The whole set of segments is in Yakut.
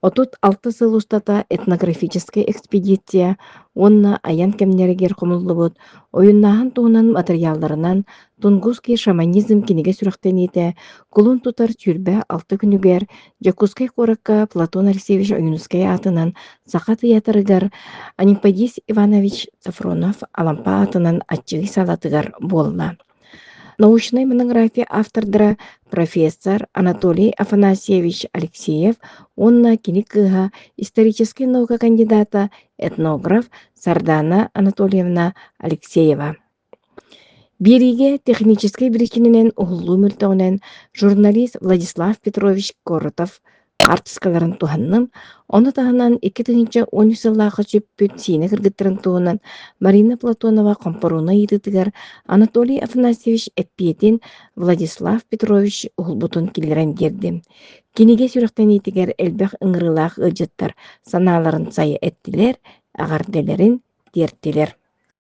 Отут алта сыл устата этнографическай экспедиция уонна айан кэмнэригэр хомуллубут ойуннааһын туһунан матырыйаалларынан Тунгусский шаманизм кинигэ сүрэхтэниитэ кулун тутар сүүрбэ алта күнүгэр Дьокуускай куоракка Платон Алексеевич Ойуунускай аатынан саха тыйаатырыгар Аниподис Иванович Софронов Алампа аатынан аччыгый саалатыгар буолла. Научнай монография автордара профессор Анатолий Афанасьевич Алексеев уонна кини кыыһа историческай наука кандидата, этнограф Сардана Анатольевна Алексеева. Биэриигэ техническэй биричиининэн уһуллуу мөлтөҕүнэн журналист Владислав Петрович Коротов хаартыскаларын туһанным, ону таһынан икки тыһыынча уон үс сыллаахха сүппүт сиинэ кыргыттарын туһунан Марина Платонова хомпоруона ыйытыытыгар Анатолий Афанасьевич эппиэтин Владислав Петрович уһулбутун киллэрэн биэрди. Кинигэ сүрэхтэниитигэр элбэх ыҥырыылаах ыалдьыттар санааларын сайа эттилэр, эҕэрдэлэрин тиэртилэр.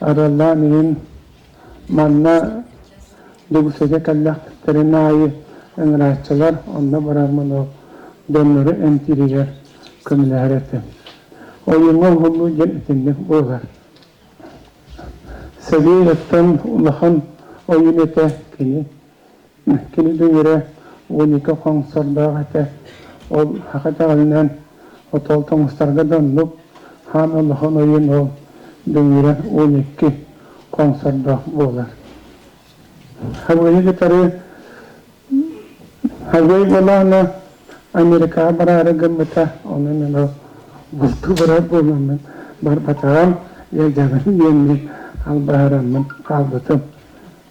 Араллаан илин манна Дьокуускайга кэллэхтэрин аайы ыҥырааччылар онно барармынал дьоннору эмтииригэр көмөлөһөр этим. Ойууҥҥа уһуллуу диэн итинник буолар. Сэлиэһиттэн улахан ойуун этэ кини Кини дүҥүрэ уон икки хоҥсордоох этэ. Ол саха даҕанынан отол тоҥустарга да оннук хаан олохон ойуун ол дүҥүрэ уон икки хоҥсордоох буолар. Хабыйы кытары Хабый болаана Америкаҕа бараары гыммыта, онон эн ол булту барар буоламмын барбатаҕым, я дьаҕын диэммин албаһыраммын хаалбытым.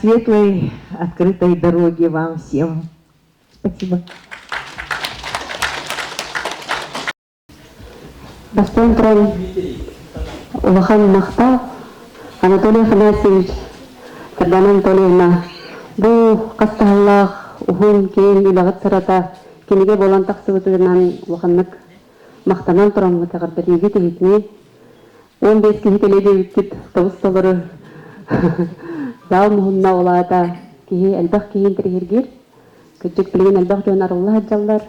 светлой открытой дороги вам всем. Спасибо. Бастыан туран улахан махта Анатолий Афанасьевич Кырдан Анатольевна бу хастахаллаах уһун киин үлэҕит сырата кинигэ болон тахсыбытынан улаханнык махтанан тураммыт тахарбатыыгы тиһитини Уон биэс киһи кэлэ диэбиппит табысталары заал муһунна ол аата киһи элбэх киһи интириһиргиир кырдьык билигин элбэх дьон арылла сылдьаллар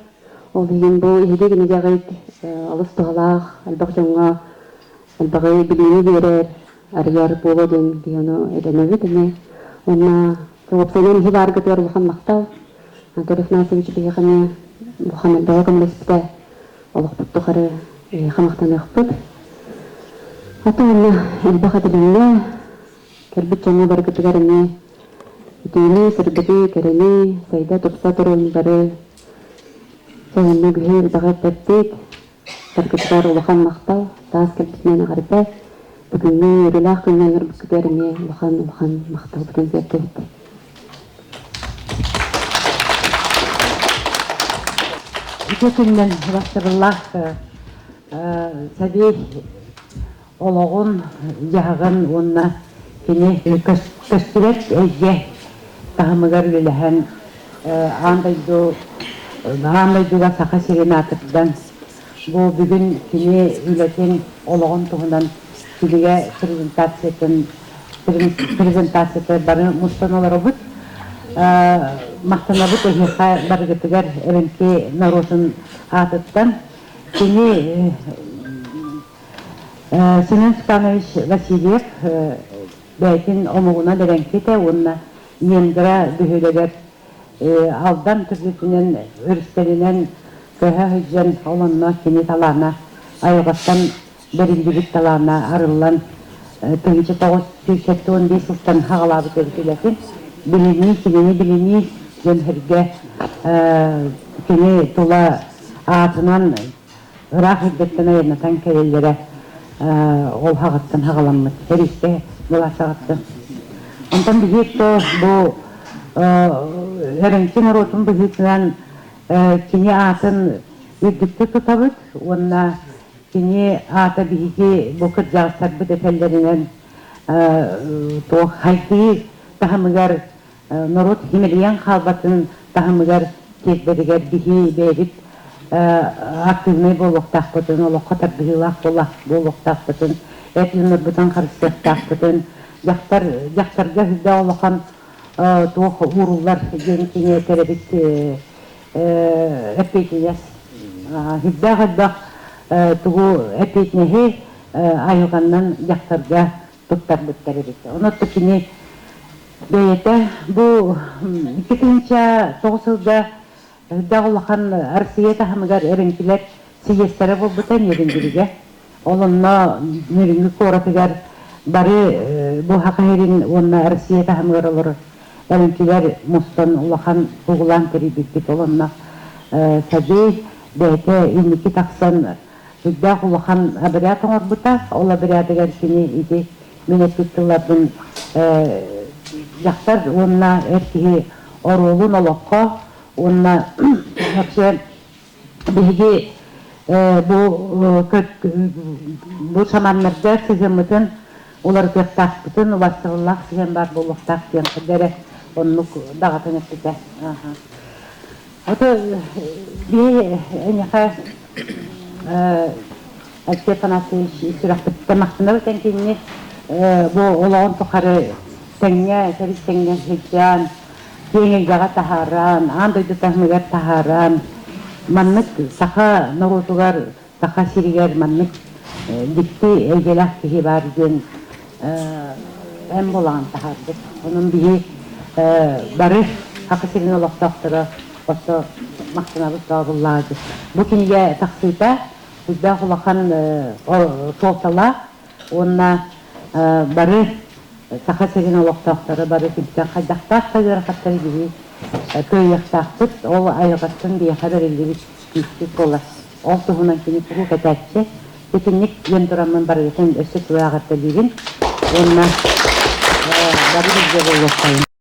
ол иһин бу иһиги кинигэҕит алыс туһалаах элбэх дьоҥҥо элбэҕи билиини биэрэр арыйар буолуо диэн киһи ону этэнэбит ини уонна сообщенан иһи бааргытыгар улахан махтал Анатолий Афанасьевич биһиэхэ бу бөҕө көмөлөспүтэ олохпут тухары эһиэхэ махтаныахпыт. Ата уонна элбэх этилиннэ. Кэлбит дьоҥҥо барыгытыгар эмиэ итиини, сырдыгы, кэрэни, сайда-тупса туруун бары сайынна күһэ элбэҕи эппэппит, Саргытыгар улахан махтал, таас кэрдиитинэн аҕарда. Бүгүҥҥү үөрүүлээх күҥҥэ олорбуккутугар эмиэ улахан-улахан махталбытын тиэрдэбит. Ити күннэр бастакылаах сабий олоҕун дьаһаҕын уонна кини көстүбэт эйгэ таһымыгар үлэлэһэн аан дойду аан дойдуга саха сирин аатырдан бу бүгүн кини үлэтин олоҕун туһунан кинигэ презентациятын презентацията бары мустан олоробут махтанабыт эһиэхэ барыгытыгар эвенки норуотун аатыттан кини Семен Степанович Васильев бэйэтин омугуна дэрэҥкитэ уонна Ингра бөһүөлэгэр Алдан төрүтүнэн өрүстэринэн көһө сылдьан олонно кини талаана айылҕаттан бэриллибит талаана арыллан тыһыынча тоҕус сүүс сэттэ уон биэс сылтан хаҕалаабыт эбит үлэтин билинии кинини билинии дьон сэргэ кини тула аатынан ыраах эрдэттэн айаннатан кэлэллэрэ ол хаҕыттан хаҕаламмыт сэриискэ былаасаҕыттан онтон быһыыттан бу Өрөҥкү норуотун быһыытынан кини аатын үрдүктүк тутабыт уонна кини аата биһиги бу кырдьаҕастарбыт этэллэринэн туох хайгыы таһымыгар норуот симэлийэн хаалбатын таһымыгар тиэрдэригэр киһи бэйэбит актыыбынай буолуохтаахпытын, олоххо тардыһыылаах буолуохтаахпытын, эт ыҥырбытын харыстыахтаахпытын, дьахтар, дьахтарга үрдэ улахан туох ууруллар диэн кини төрөбүт эппиэтинэс элбэх-элбэх тугу эппиэтинэһи айылҕаннан дьахтарга туттарбыттар эбит. Ону отто кини бэйэтэ бу икки тыынча тоҕус сылга ырдах улахан Арсыйа таһымыгар эбиҥкилэр сийиэстэрэ буолбута Ньирингиригэ. Ол онно Ньириҥи куоратыгар бары бу Хахайрин уонна Россия таһымыгар олорор эбиҥкилэр мустан улахан тугулаан тэрийбиппит. Ол онно садыы бэйэтэ инники тахсан Сыйдаах улахан обряд оҥорбута. Ол обрядыгар кини ити мин эппит тылларбын дьахтар уонна эр киһи оруолун олоххо уонна вообще биһиги бу бу саманнарга сыһыаммытын уларытыахтаахпытын убастабыллаах сыһыан баар буолуохтаах диэн эрэ оннук даҕатан эппитэ Это биһи эйиэхэ Степан Артыевич сүрэхпиттэн махтанабыт эн кинини бу олоҕун тухары тэҥҥэ төрүт тэҥҥэ сылдьан киэҥ эйгэҕэ таһааран аан дойду таһымыгар таһааран маннык саха норуотугар Саха сиригэр маннык дьикти эйгэлээх киһи баар диэн эн булаҕын таһаарбыт. Онон биһи бары Саха сирин олохтоохторо оссо массыынабыт тообуллаҕа дии. Бу кинигэ тахсыыта, туйдаах улахан суолталаах уонна бары Саха сирин олохтоохторо бары күнтэн хайдахтаах да ыарахаттары билии кыайыахтаахпыт. Ол айылҕаттан биһиэхэ бэриллибит күүспүт буолар. Ол туһунан кини куруук этээччи, итинник диэн тураммын барыгытын өссө тулааҕыртэлиибин уонна бары билгэ буолуохтарын.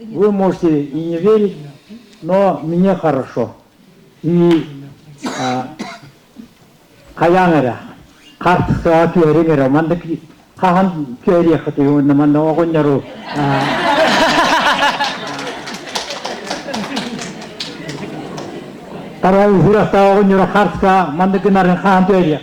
Вы можете и не верить, но мне хорошо. И хайаан эрэ хартыскаҕа түһэриҥ эрэ маннык хаһан түһэриэххитий уонна манна оҕонньору тарҕайы сүрэхтээҕи оҕонньору хартыскаҕа маннык гынарын хаһан түһэриэх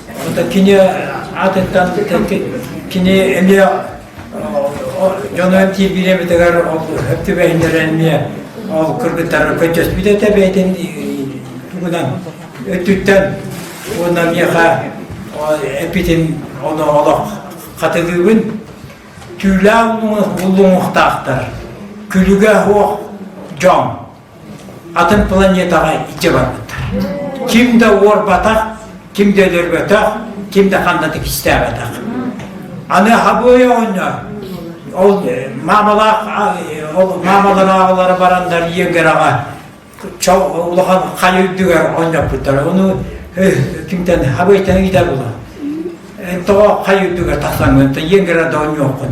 Ото кини атыттан кини эмиэ дьону эмтиир бириэбитигэр ол түбэһиннэрэ эмиэ ол кыргыттарга көччөспүт этэ бэйтин тугунан өттүттэн уонна миэхэ эпитин ону олох хатылыыбын түүлээх буллуҥухтаахтар күлүгэ оһох дьон атын планетаҕа илдьэ барбыттар ким да уорбатах ким да өлөрбөтөх ким да ханна да кистээбэтэх аны хабыа оонньоо ол э, маамалаах э, ол маамалар аҕалара барандар иегераҕа улахан хай үрдүгэр оонньоппуттар ону кимтэн хабыйтан иитэ була тоҕо хай үрдүгэр тахсаҥҥын иегера да оонньуоххун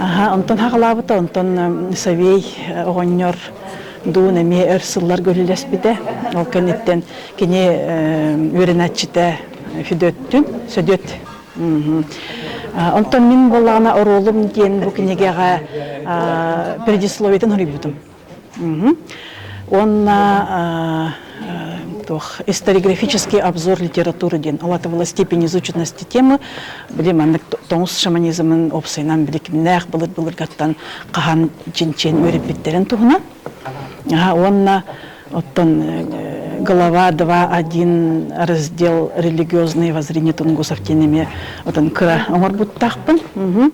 Аха, онтон хаҕалаабыта, онтон Савей оҕонньор Дуун эмиэ өр сылларга үлэлэспитэ. Ол кэнниттэн кини үөрэнээччитэ Федөттүн Сөдүөт Онтон мин буоллаҕына оруолум диэн бу кинигэҕэ передисловиетын хоруйбутум. Уонна историграфический обзор литературы диэн алатывала степень изученности темы били маннык тоҥус шаманизмын опсайынан били кимнээх былыр былыргаттан хаһан чинчен үөрэппиттерин туһунан уонна оттон глава 2.1 раздел религиозные воззрения тунгусов тенеме отон кыра оҥорбуттаахпын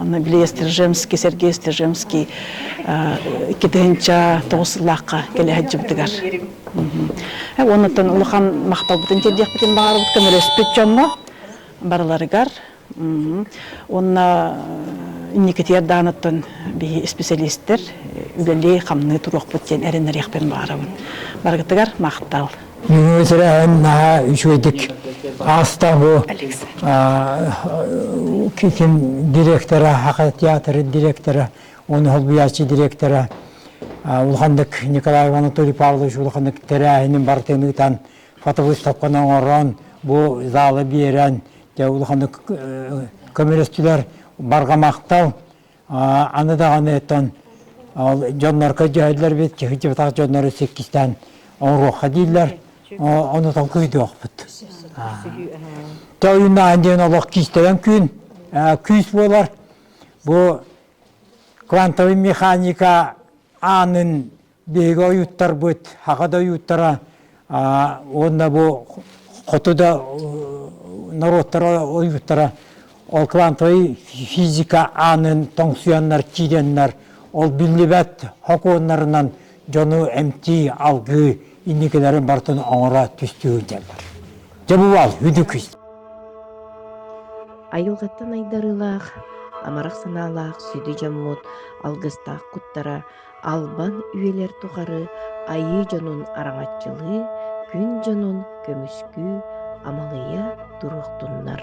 Онно били Стржемский, Сергей Стржемский икки тыһыынча тоҕус сыллаахха кэлэһэдьибитигэр. Оннуттан улахан махталбытын тиэрдиэхпитин баҕарбыт көмөлөспүт дьоҥҥо барыларыгар. Уонна инникитиэр дааныттан биһи исписэлиистэр үлэлии-хамныы туруохпут диэн эрэнэриэхпин баҕарабын. Барыгытыгар махтал. Мүнүүтэрэн наһаа үчүгэйдик ааста бу китин директора хакы театры директора оны холбуячы директора улаханнык Николай Анатолий Павлович улаханнык терээһинин бартын ыытан фотовыставканы оҥорон бу залы биэрэн те улаханнык көмөлөстүлэр баргамактал Аны даҕаны оттон дьоннорго дьөһөллөр бит сыһдьыбатах дьоннору сиккистээн оҥоруохха дииллэр ону тоҥкуйдуохпут. То үйүннээн диэн олох кистэгэн күн күүс буолар бу квантовый механика аанын биһиги ойууттарбыт аҕа да ойууттара уонна бу хоту да норуоттара ойууттара ол квантовый физика аанын тоҥсуйаннар киирэннэр ол биллибэт хокуоннарынан дьону эмтии алгыы инникилэрин барытын оҥоро түстүүр дьэллэр дьэ бувал үдүкүс айылҕаттан айдарыылаах амарах санаалаах сүдү дьоммут алгыстаах куттара Албан үйэлэр тухары айыы дьонун араҥаччылыы, күн дьонун көмүскүү, амалыйа туруохтуннар!